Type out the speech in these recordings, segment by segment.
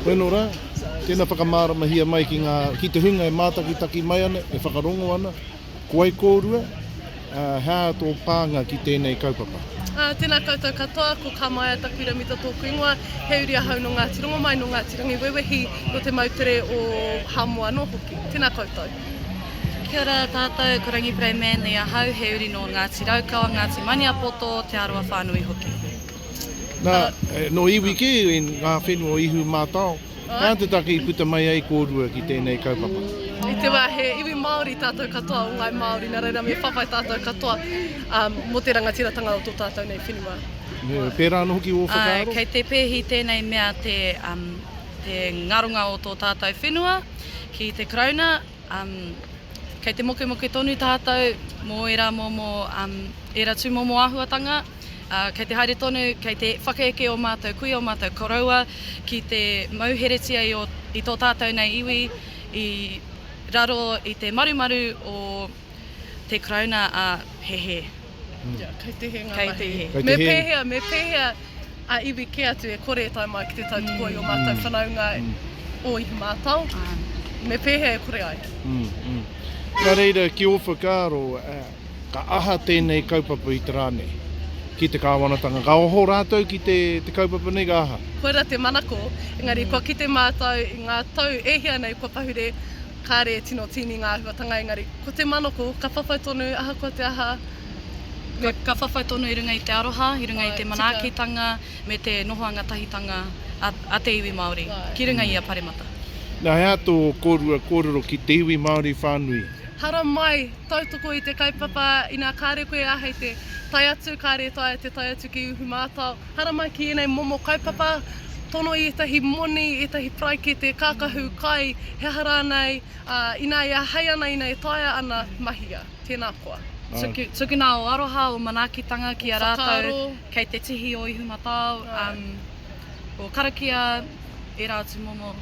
Koe no ra, tena whakamāramahia mai ki nga, ki te hunga e mātakitaki mai ana, e whakarongo ana, ko wai kōrua, ā, hea tō pānga ki tēnei kaupapa? Ā, tēnā koutou katoa, ko Kamaea taku iramita tōku ingoa, he uri ahau nō Ngāti Rongomai, nō Ngāti Rangiwewehi, nō te moutere o Hamu anō hoki. Tēnā koutou. Kia ora tātou, ko Rangi Pray Manly ahau, he uri nō Ngāti Raukawa, Ngāti Maniapoto, Te Arawa whānui hoki. Na, no iwi ke, nga whenua o Ihu Matao, na te take i puta mai ai korua ki tenei kaupapa. I te wa he iwi Maori tatou katoa o ngai Maori, na reira me whawhai tatou katoa mo te rangatiratanga o to tatou nei whenua. Nui, pera no hoki o whakaaro? Kei te pehi tenei mea te ngaronga o to tatou whenua ki te Karauna, kei te mokemoke tonu tatou mo era momo, era tumomo ahuatanga, ā, kei te haere tonu, kei te whakaeke ō mātou kuia, ō mātou koroua ki te mauheretia i ō, i tō tātou nei iwi i raro i te marumaru o te Karauna ā, he hē. Ia, kei te hē ngā mahi. Kei te hē. Me pēhea, me pēhea a iwi kē atu e kore e tae mai ki te tautoko i ō mātou whanaunga o Ihu Mātao? Me pēhea e kore ai? Nā reira, ki ō whakaaro, Ka aha tēnei kaupapa i te rā nei? Ki te kāwanatanga. Ka oho rātou ki te kaupapa nei, ka aha? Koirā te manako, engari kua kite mātou i ngā tau e hia nei kua pahure, kāre e tino tīni ngā āhuatanga, engari ko te manako, ka whawhai tonu ahakoa te aha, me. Ka whawhai tonu i runga i te aroha, i runga i te manaakitanga, me te noho angatahitanga a te iwi Māori ki runga i ia paremata. Nā, he aha tō kōrua kōrero ki te iwi Māori whānui? Haramai Tautoko i te kaupapa, inā kāre koe e āhei te tae atu, kāre e taea te tae atu ki uhu mātao. Haramai ki ēnei momo kaupapa, tono i ētahi moni, ētahi paraikete, kākahu, kai, he aha rānei, ā, inā e āhei ana, inā e taea ana, mahia. Tēnā koa. Tuku, tukuna ō aroha, ō manaakitanga ki a rātou, kei te tihi ō ihu matao, ā. Ko karakia ērā atu momo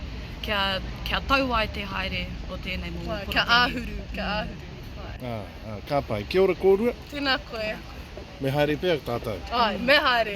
kia, kia tau ai te haere o tēnei momo porotehi. Kia āhuru, kia āhuru. Ā, ā, ka pai. Kia ora kōrua. Tēnā koe. Me haere pea tātou? Āe, me haere.